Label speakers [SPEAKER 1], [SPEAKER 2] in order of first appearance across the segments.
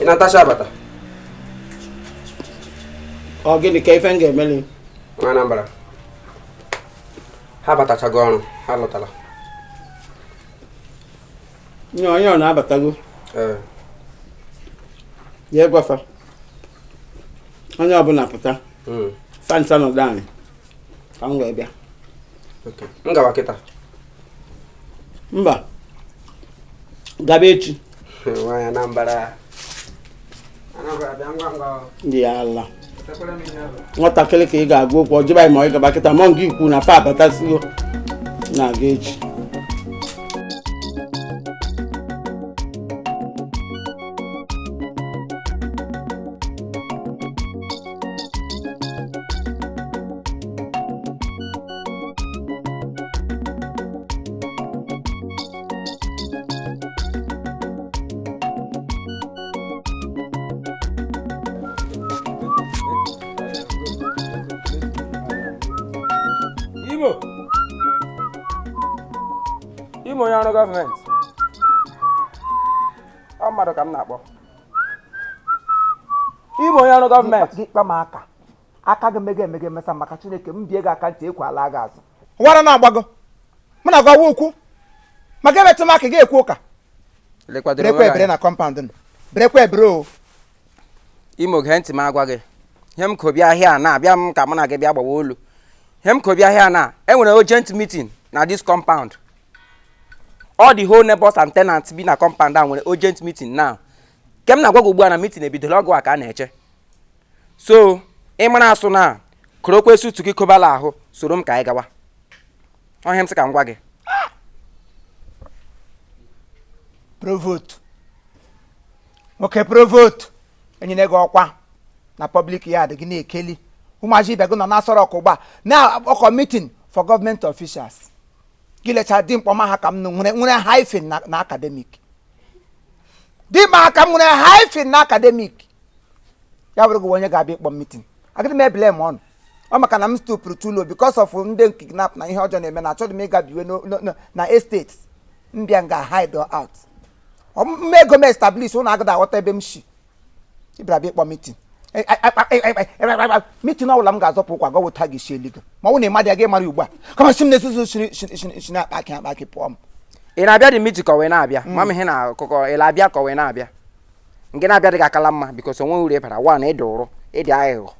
[SPEAKER 1] ị na-atacha
[SPEAKER 2] abata ọ gịnị ka ife m ga-emeli nwa Anambra
[SPEAKER 1] ha abatachago ọrụ ha lọtara
[SPEAKER 2] nye onye ọ na-abatago ee ya gwa fa onye ọbụla pụta mm. fa nsa nọdụ anị ka m wee
[SPEAKER 1] bịa m gawa kịta
[SPEAKER 2] mba gaba echi nwa Anambra
[SPEAKER 1] ndị ya ala
[SPEAKER 2] nwatakịrị ka ị ga-agwa okwu ọ jụba ma ị gaba kịta m'ọ nke i kwu na fa abatasigo na-aga echi
[SPEAKER 1] Imo Imo onye ọrụ gọọmenti ọ mmadụ ka m na-akpọ Imo onye ọrụ gọọmenti gị kpa m
[SPEAKER 3] aka aka gị mega emega emesa maka chineke m bie gị aka ntị ekwe ala gị azụ wara na-agbago
[SPEAKER 4] mụ na gwawa okwu ma gị emetụ m aka gị ekwu ụka berekwa ebere na kọmpaụnd nụ berekwa ebere
[SPEAKER 1] o Imo gee ntị m agwa gị ihe m ko bịa here na abịa m ka mụ na gị bịa gbawa olu ihe m ko bịa here na e nwere urgent meeting na this compound all the whole neighbors and tenants bi na compound e nwere urgent meeting now nke m na-agwa gị ugbu a na meeting ebidola ọ gụwa ka a na-eche so ị mara asụ na korokwe sutu gị kobala ahụ soro m ka anyị gawa ọ ihe a m sị ka m gwa gị
[SPEAKER 4] provost nwoke provost e nyere gị ọkwa na public yard gị na-ekeli ụmụazị ibe gị nọ na-asọrọ ọkụ ugbu a na ọkọ meeting for government officials gị lechaa dimkpa ọma ha ka m nụ nwere nwere hyphen na na academic dimkpa ha ka m nwere hyphen na academic ya bụrụ gị wụ onye ga-abịa ịkpọ m meeting agadị m ebele m ọnụ ọ maka na m stoopụrụ too low because of ndị kidnap na ihe ọjọọ na-eme na achọghị m ịga biwe no- no- no- na estate m bịa nga hide out m mee ego m establish ụnụ agadị aghọta ebe m si ị bịara bịa ịkpọ mitin mitin ọbụla m ga-azọpụ ụkwụ gwa wụta gị si illegal ma ọ bụ na ị madị gị mara ugbu a kama si m na-esuzu si na-akpa akị akpa akị pụọ m ị na-abịa dị
[SPEAKER 1] mitin ka ọ wee na-abịa ma m ihe na akụkọ ị na-abịa ka ọ wee na-abịa nke na-abịa dị gị akala mma because o nwee uru ị bara one ịdị ụrụ ịdị aghụghọ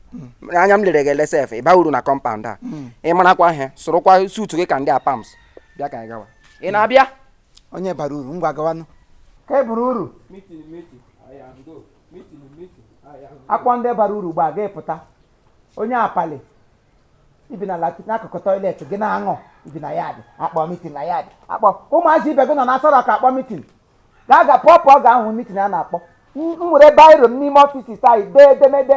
[SPEAKER 1] anya m lere gị le sef ịba uru na compound a ị marakwa ihe sụrụkwa suit gị ka ndị Apams bịa ka anyị gawa ị na-abịa onye bara
[SPEAKER 4] uru ngwa gawanụ ka e buru uru akpọ ndị bara uru gbaa gị pụta onye apali i bi n'akụkụ toilet gị na-aṅụ i bi na yard akpọ mitin na yard akpọ ụmụazị ibe gị nọ na Aso Rock akpọ mitin ga-aga pụọ pụọ ga-ahụ mitin a na-akpọ m were biro m n'ime ọfis anyị dee edemede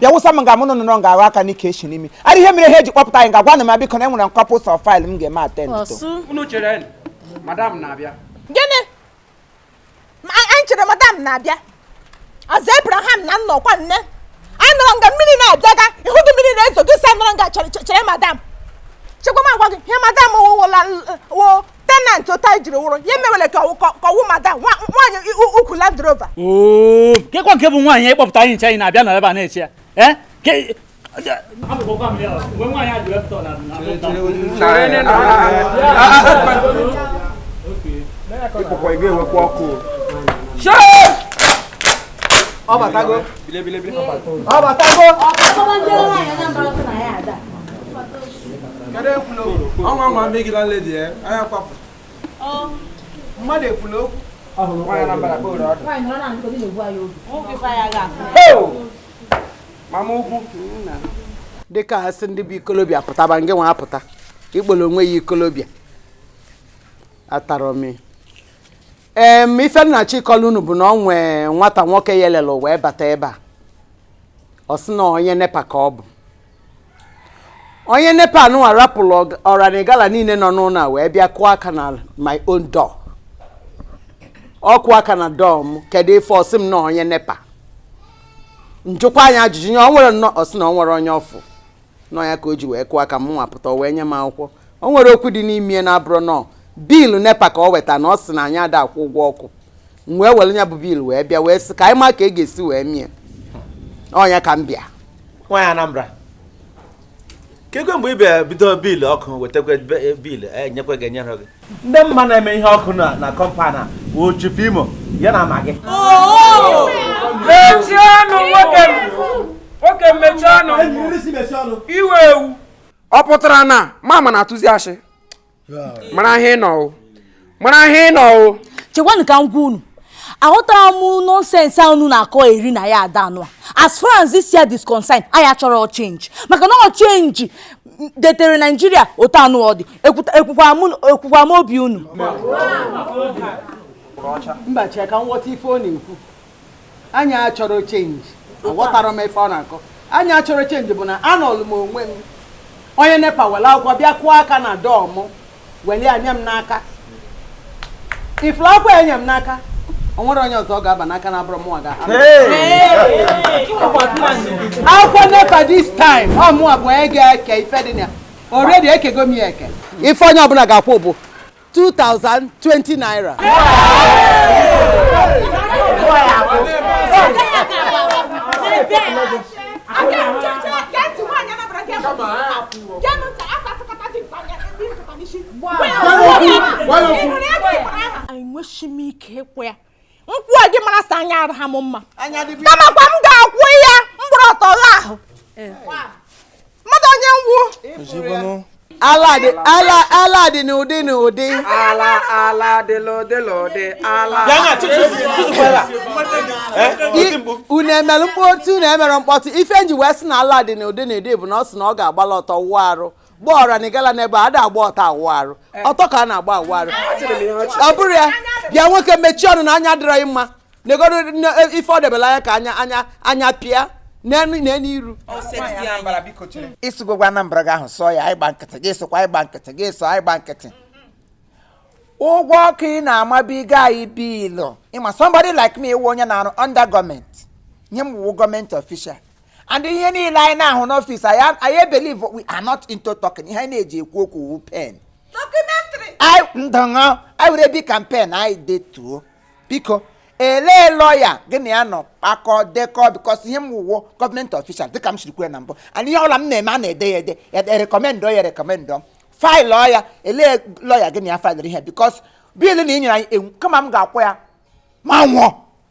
[SPEAKER 4] bịa wụsa m ga mụ na unu nga ahụ aka n'ike echi n'imi ara ihe mere ha eji kpọpụta anyị ga-agwanụ m biko na enwere couples of file m ga-eme attend to ọ sị unu chere
[SPEAKER 1] madam na-abịa gịnị
[SPEAKER 5] Ma a- anyị chere madam na-abịa ọzọ abraham na nna ọkwa nne anyị nọrọ nga mmiri na-abịaga ịhụ gị mmiri na-ezo gị sa nọrọ nga chere chere- chere madam chekwa m agwa gị ihe madam wụ fellow tenant otu anyị jiri wụrụ ya emewere ka ọ wụ madam nwaanyị ukwu Land Rover oo
[SPEAKER 6] kekwa nke bụ nwaanyị ịkpọpụta anyị nche anyị na-abịa na ebe a na-eche ya ee ị pụkwa ị ga-enwekwa
[SPEAKER 7] ọkụ ọ batago ọ batago ọ batago kedu ekwula okwu ọnwa nwa
[SPEAKER 1] megide lady ya anya kwapụ mmadụ ekwula okwu mama ukwu
[SPEAKER 2] dịka a sị ndị bụ ikolobịa pụtaba ngị nwa apụta ikpolo onwe ya ikolobịa atara m em ife m na-achịkọla unu bụ na ọ nwee nwata nwoke ya elele wee bata ebe a ọ sị na onye nepa ka ọ bụ onye nepa nụnwa rapụrụ ọranigala niile nọ n'ụlọ a wee bịa kụọ aka na my own door ọ kụọ aka na door m kedu ife ọ sị m na onye nepa m jụkwa nya ajụjụ nye ọ nwere nnọọ ọ sị na ọ nwere onye ọ fụ nọ ya ka o ji wee kụọ aka m nwa apụta o wee nye m akwụkwọ o nwere okwu dị n'ime ya na-abụrụ nọ bill nepa ka ọ weta na ọ sị na anyị ada akwụ ụgwọ ọkụ m wee were nya bụ bill wee bịa wee sị ka anyị ma ka e ga-esi wee mie ọ nya ka m bịa nwaanyị Anambra
[SPEAKER 8] kekwa mgbe ị bịara bido bill ọkụ wetakwa be- bill enyekwa gị enyere gị ndị m ma na-eme ihe ọkụ na na compound a bụ Chief Imo ya na Maggi mechie
[SPEAKER 1] ọnụ nwoke m nwoke m mechie ọnụ ị wụ ewu ọ pụtara na mama na-atụzi ashị mara ihe ịnọ o mara ihe ịnọ o chekwanụ ka m gwa unu
[SPEAKER 9] aghọtara m nonsense a unu na-akọ eri na ya ada anụ as far as this year is concerned anyị achọrọ change maka na ọ change detere naijiria otu anụ ọ dị ekwukwa m obi unu mba chee ka m ghọta ife ọ na-ekwu
[SPEAKER 2] anyị achọrọ change aghọtara m ife ọ na-akọ anyị achọrọ change bụ na anọlụ m onwe m onye nepa were akwụkwọ bịa kụọ aka na door m weli ya nye m n'aka ifuru akwụkwọ ya nye m n'aka o nwere onye ọzọ ọ ga-aba n'aka na-abụrọ mụnwa ga akwụkwọ nepa this time ọ mụnwa bụ onye ga-eke ife dị na ya already ekego m ya eke ife onye ọbụla ga-akwụ bụ 2020 naira
[SPEAKER 5] enweshi m ike ịkwụ ya nkwụ a gị mara sa anya arụ ha m mma kamakwa m ga-akwụ ya m gbara ọtọ gha ahụ mmadụ onye ngwụ ala dị n'ụdị n'ụdị
[SPEAKER 2] ala ala dị n'ụdị n'ụdị ala unu emere mkpọtụ unu emere mkpọtụ ife nji wee sị na ala dị n'ụdị n'ụdị bụ na ọ sị na ọ ga-agbala ọtọ wụọ arụ gba ọra na ị gala n'ebe a da agba ọtọ awụ arụ eh. ọtọ ka a na-agba awụ arụ ọ bụrụ ya bịa nwoke mechie ọnụ na anya adịrọghị mma negoro e, ife ọ debela anya ka anya pịa n'elu iru
[SPEAKER 4] ịsụgogwa Anambra gị ahụ sọ ya ịgba nkịtị gị sokwa ịgba nkịtị gị sọ ịgba nkịtị ụgwọ ọkụ ị na-amabiga anyị bill ị ma somebody like me iwu onye na-arụ under government ihe m wụ government official and ihe niile anyị na-ahụ n'office anyị anyị believe we are not into talking ihe anyị na-eji ekwu okwu wu pen Documentary. anyị ndọṅọ anyị were Bic and pen anyị detuo biko elee lọya gị na ya nọ kpakọ dekọ because ihe m wụwo government official dịka m siri kwuo na mbụ and ihe ọla m na-eme a na-ede ya ede ya rekọmendọ ya rekọmendọ faịlụọ ya elee lọya gị na ya faịlụrụ ihe because bill na ị nyere anyị ewu kama m ga-akwụ ya m anwụọ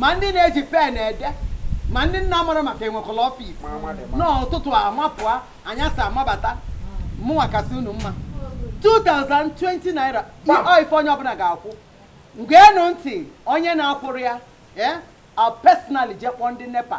[SPEAKER 2] ma ndị na-eji pen ede ma ndị na-amara maka enwekwala office n'ụtụtụ amapụa anyasị amabata mụnwa kasị unu mma 2020 naira ife onye ọbụla ga-akwụ ngeenụ ntị onye na-akwụrọ ya eh, I'll personally jee kpọọ ndị nepa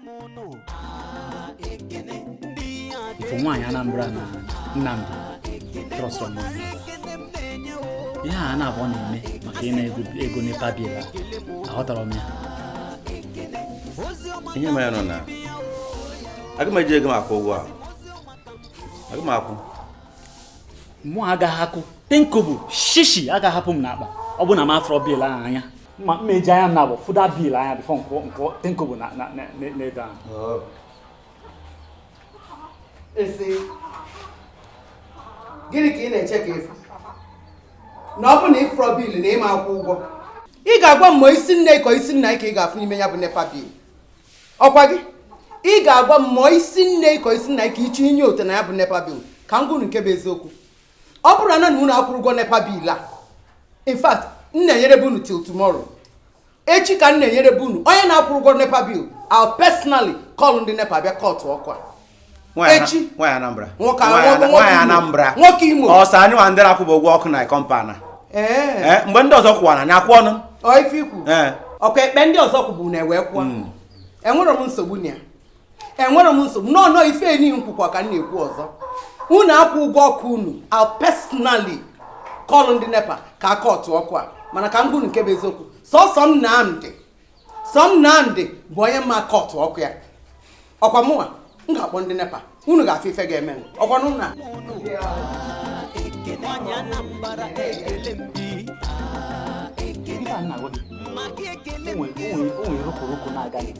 [SPEAKER 6] ị fụ nwaanyị Anambra na Nnamdi trọst ihe ha naabụọ na-eme maka ịna ego nepa bil aghọtara m ya
[SPEAKER 8] ihe mere nọ na aga m eji ego m akwụ ụgwọ ahụ aga m
[SPEAKER 6] akwụ mụ agaghị akwụ ten kobo shishi agaghị apụ m n'akpa ọ bụ na m afụrọ bil ahụ anya ma mma eji anya m naabọ fụ that bil anya bifo m kwụọ ten kobo na- na- na- na- n'ebe ahụ Oh. esi gịnị ka ị na-eche ka ị
[SPEAKER 2] fụ na ọ bụ na ị fụrọ bil na ị ma akwụ ụgwọ ị ga-agwa m ma isi nne ka isi nna ka ị ga-afụ n'ime ya bụ nepa bil ọkwa gị ị ga-agwa m ma isi nne ka isi nna ka ị chọ ịnyote na ya bụ nepa bil ka m gwa unu nke bụ eziokwu ọ bụrụ na unu akwụrọ ụgwọ nepa bil a in fact m na-enyere bụ unu till tomorrow echi ka m na-enyere bụ unu onye na-akwụrọ ụgwọ nepa bil I'll personally call ndị nepa bịa kọtụọ ọkụ a echi nwaanyị
[SPEAKER 8] anambra nwoke
[SPEAKER 2] anambra
[SPEAKER 8] nwoke imo ọ sọ
[SPEAKER 2] anyị nwa ndị
[SPEAKER 8] na-akwụba ụgwọ ọkụ na kọmpaụnd a eh, mgbe ndị ọzọ kwụwara anyị akwụọ nụ ọkwa
[SPEAKER 2] eh. ekpe ndị ọzọ kwụba unu ewee kwụọ hmm. enwere m nsogbu na ya enwere m nsogbu nọọ nọọ ife enyi m kwukwa ka m na-ekwu ọzọ unu akwụ ụgwọ ọkụ unu I'll personally call ndị nepa ka ha kọtụọ ọkụ a mana ka m gwa unu nke bụ eziokwu sọsọ Nnamdi sọ Nnamdi bụ onye m ma akọtụ ọkụ ya ọkwa mụnwa m ga-akpọ ndị nepa unu ga-afụ ife ga-emenụ ọkwa na ụna Maka ekele
[SPEAKER 6] m onwere rokoroko na-aga gị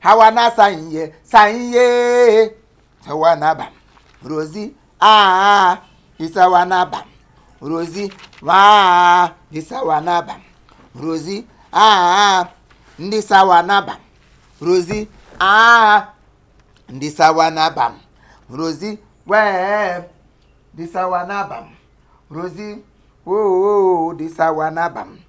[SPEAKER 4] hawa na sanye sanye sawa na bam rozi aa ndị sawa na bam rozi waa ndị sawa na bam rozi aa ndị sawa na bam rozi aa ndị sawa na bam rozi wee ndị sawa na bam rozi oo ndị sawa na bam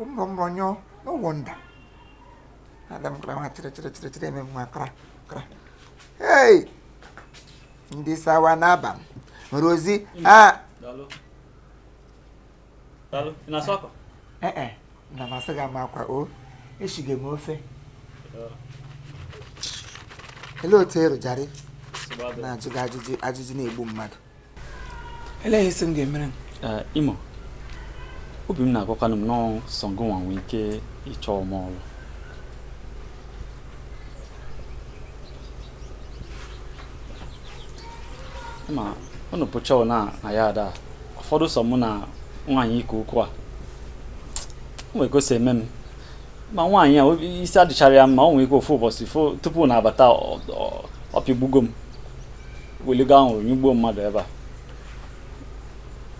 [SPEAKER 4] ụmụrọnyọ no wonder ada m kra nwa chịrị chịrị chịrị chịrị eme nwa kra kra hey ndị sawa na bam rozi a
[SPEAKER 6] ee eh, eh,
[SPEAKER 4] na masị gị ama akwa o eshige m ofe olee otu ịrụjarị na-ajụ gị ajụjụ na-egbu mmadụ elee ihe ị sị m ga-emere m eh,
[SPEAKER 6] imo obi m na-agwakwanụ m na ọ sọ ngụ nwa nwee ike ịchọ m ọrụ ma ụnụ pụcha na na yad a ọ fọdụ sọ mụ na nwaanyị ike ukwu a o nwere ka o si eme m ma nwaanyị a isi adịcharọ ya mma o nwere ike ofu ụbọchị tupu ị na-abata ọ pịgbugo m weligo ahụrụ nyụgbuo mmadụ ebe a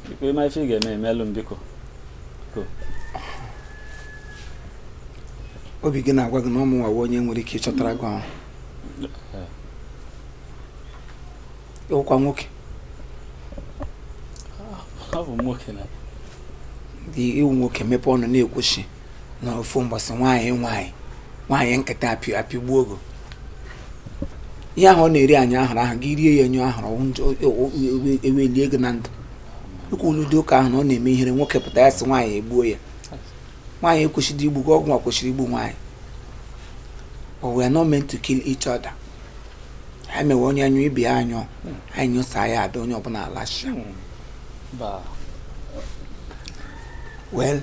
[SPEAKER 6] biko ị ma ife ị ga-eme emelụ m biko
[SPEAKER 4] obi gị na-agwa gị na ọ mụnwa wụ onye nwere ike ịchọtara gị ọrụ ị wụkwa nwoke
[SPEAKER 6] ah, abụ nwoke na dị
[SPEAKER 4] ị wụ nwoke mepe ọnụ na-ekwu sị na ofu mbọsị nwaanyị nwaanyị nwaanyị nkịta apị apịgbuo gị o ihe ahụ ọ na-eri anyụ ahụrụ ahụ gị rie ya nyụọ ahụrụ ọ wụ njọ e wee lie gị na ndụ ekwula ụdị ụka ahụ na ọ na-eme ihere nwoke pụta ya sị nwaanyị egbuo ya nwaanyị ekwesịghị igbu gị ọ gịnwa kwesịrị igbu nwaanyị but we are not meant to kill each other ha mewe onye anyụ ibe ya anyụ anyị nyụsaa ya ada onye ọbụla alachia Ba. well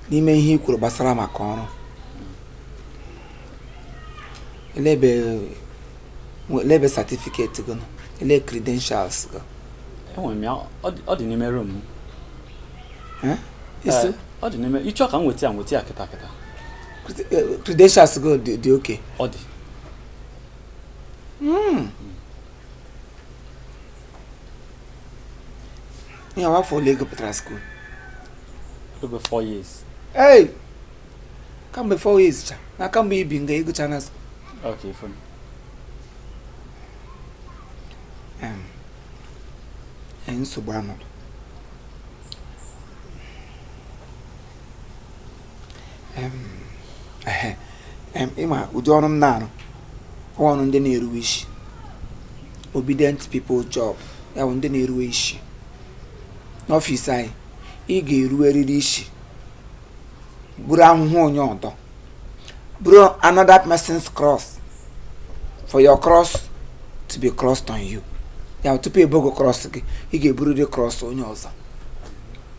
[SPEAKER 4] n'ime ihe i kwuru gbasara maka ọrụ elee ebe certificate gị elee credentials gị enwere m
[SPEAKER 6] ya ọ dị n'ime room ọ dị n'ime ị chọ ka m nweta ya nweta ya kịta kịta credentials
[SPEAKER 4] gị dị okay ọ dị
[SPEAKER 6] hmm.
[SPEAKER 4] ihe a wụ afọ ole ị gụpụtara school
[SPEAKER 6] over 4 years ei
[SPEAKER 4] kamgbe 4 years cha na kamgbe i bi nga ị gụchana school okay
[SPEAKER 6] fine
[SPEAKER 4] Em, ee, nsogbu anọdụ ị ma ụdị ọrụ m na-arụ wụ ọrụ ndị na-eruwe isi obedient people job ya bụ ndị na-eruwe isi n'ọfịs anyị ị ga-eruwerịrị isi buru ahụhụ onye ọdọ buru another person's cross for your cross to be crossed on you ya wụ tupu e buo cross gị ị ga-eburịrị cross onye ọzọ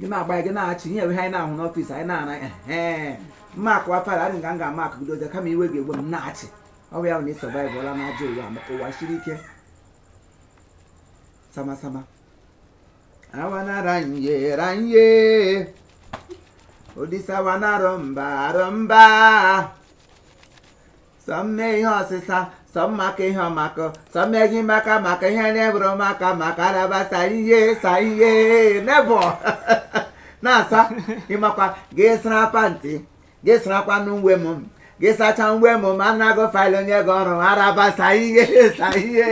[SPEAKER 4] gị na-agba ya gị na-achị ihe enweghị anyị na-ahụ n'ọfịs anyị na-ana ee mma akụwa fara adị nga m ga-ama akụ gị dozie kama iwe ga-egwe m na-achị ọ bụ ya na ị survive-ụla n'ajọ ụwa maka ụwa siri ike samasama awanaranye ranye odisawanarọ mba arọ mba sọ mme ihe ọsịsa sọ mmaka ihe ọmakọ sọ mmeghi maka maka ihe na-eburu maka maka alaba sa ihe sa ihe nebọ na-asa ị makwa gị sara pantị gị sarakwa n'uwe m gị sacha uwe m ma nna gị faịlụ onye gị ọrụ araba sa ihe sa ihe